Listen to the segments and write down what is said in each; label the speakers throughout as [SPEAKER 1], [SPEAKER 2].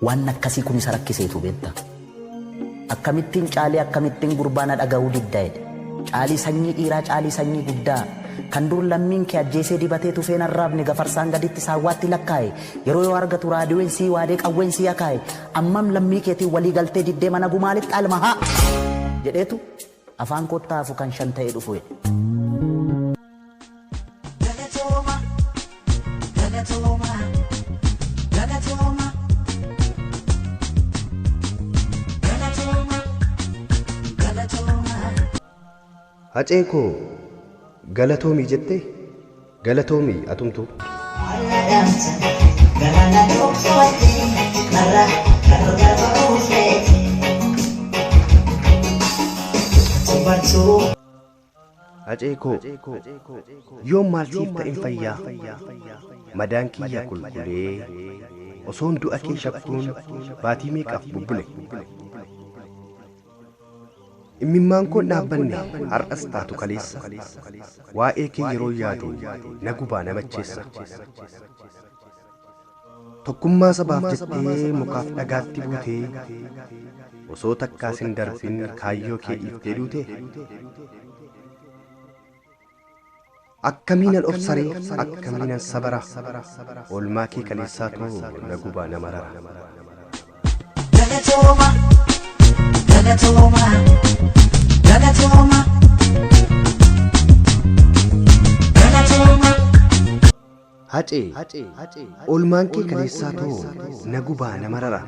[SPEAKER 1] Waan akkasii kun isa rakkiseetu beekta. Akkamittiin caalii akkamittiin gurbaa na dhaga'uu didda jedhe. Caalii sanyii dhiiraa caalii sanyii guddaa kan dur lammiin kee ajjeesee dibatee tufeen arraabne gafarsaan gaditti saawwaatti lakkaa'e yeroo yoo argatu raadiyoon sii waadee qawween sii akaa'e ammam lammii keetiin walii galtee diddee mana gumaa lixxa almahaa jedheetu Afaan kottaa hafu kan shan ta'e dhufu jedhe.
[SPEAKER 2] Hacee koo galatoomii jettee? Galatoomi atumtuu. Alla dhamsa galana dhooftu ati karra karra garba oofeeti. Tubartuu. Hacee koo yoom maal siif ta'en fayyaa madaan kiyya kulkulee osoon du'a kee shakkuun baatii meeqaaf bubbule. Immimmaan koon dhaabbanne har'as taatu kaleessa Waa'ee kee yeroon yaadu na gubaa na macheessa Tokkummaa sabaaf jettee mukaaf dhagaatti buutee Osoo takkaas hin darbin kaayyoo kee dhiiftee duutee? Akkamiinan obsaree akkamiinan sabara Oolmaa kee kaleessaatu na gubaa na marara. Galatooma, galatooma, galatooma. Galatooma, Hacee oolmaan kee kaleessaatu na gubaa na marara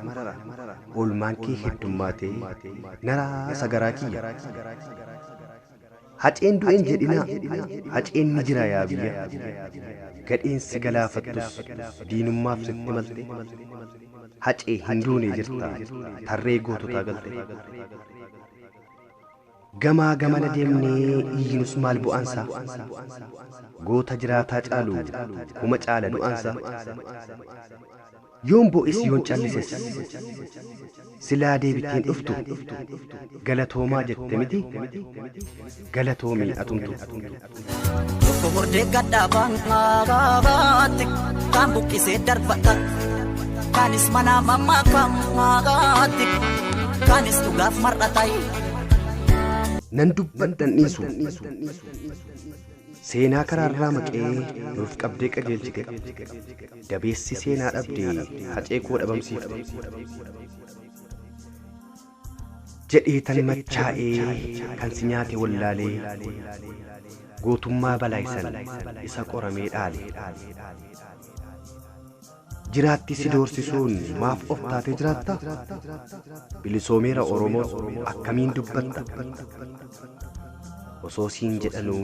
[SPEAKER 2] Oolmaan kee heddummaatee naraa sagaraa kiyya. Haceen du'e hin jedhinaa haceen ni jira yaa biyya gadheen si galaafattus diinummaaf sitti malte hacee hin duune jirta tarree goototaa galte gamaa gamana deemnee iyyinus maal bu'aansaa goota jiraataa caalu kuma caala du'aansaa. Yoon bo'es yoon callises silaa deebittee hin dhuftu galatoomaa jette miti galatoomi atumtu. Tokko
[SPEAKER 3] hordee gaddaa baangaagaatti kaan buqqisee darbata kaanis manaa mammaa kaammaagaatti kaanis dhugaaf mar'atayi.
[SPEAKER 2] Nan dubbadhan dhiisu seenaa karaarraa maqee nuuf qabdee qajeelchite. Dabeessi seenaa dhabde hacee koo dhabamsiifte. Jedhee tan machaa'ee kan si nyaate wallaalee gootummaa balaay san isa qoramee dhaale. Jiraatti si doorsisuun maaf of taatee jiraatta? Bilisoomeera Oromoos akkamiin dubbatta? Osoo siin jedhanuu.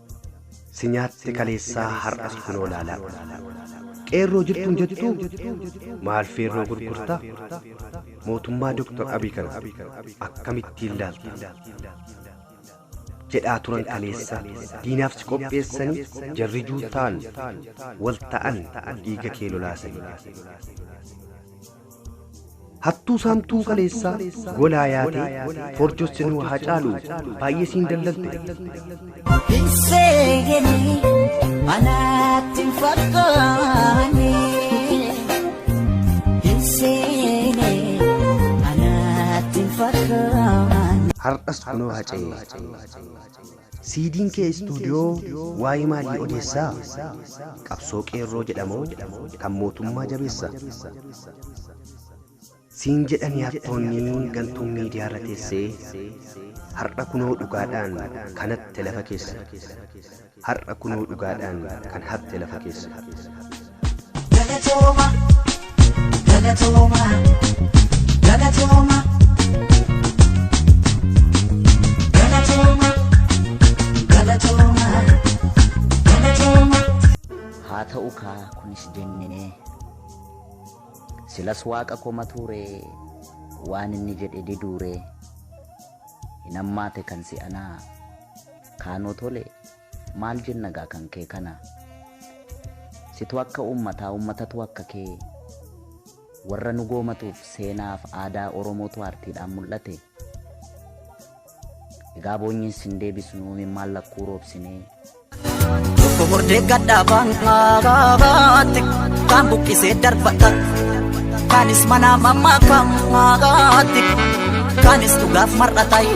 [SPEAKER 2] Si nyaatte kaleessaa har'as kunoo laalaa. Qeerroo jirtuun jettuu maal feerroo gurgurtaa? Mootummaa Dr. Abiy kana akkamittiin laalta? Jedhaa turan kaleessa diinaaf si qopheessanii jarri juuntaan wal ta'an dhiiga kee lolaasanii. Hattuu saamtuun kaleessaa golaa yaatee forjos sinuu haa caalu baay'ee siin dallalte. Hin
[SPEAKER 3] seeganii manaatti hin fakkaanne. Hin seene manaatti hin fakkaanne. Har'as kunoo
[SPEAKER 2] hacee. Siidiin kee istuudiyoo waa'ee maalii odeessa? Qabsoo qeerroo jedha moo kan mootummaa jabeessa? Siin jedhanii hattoonni gantuun miidiyaarra teesse Har'a kunoo dhugaadhaan kan hatte lafa keessa Har'a kunoo dhugaadhaan kan hatte lafa keessa. Galatooma,
[SPEAKER 3] galatooma, galatooma. Galatooma, galatooma, galatooma.
[SPEAKER 1] haa ta'u kaa kunis jennee silas waaqa koma tuure waan inni jedhe diduure hin ammaate kan si'anaa kaanoo tole Maal jenna gaa kan kee kana Situ akka uummataa uummatatu akka kee Warra nu goomatuuf seenaaf aadaa Oromootu aartiidhaan mul'ate Egaa boonyiin sin deebisnu imimmaan lakkuu roobsinee
[SPEAKER 3] Tokko murdee gaddaa baangaagaatti Kaan buqqisee darbatan Kaanis manaa mammaa kaammaagaatti Kaanis dhugaaf mar'atayi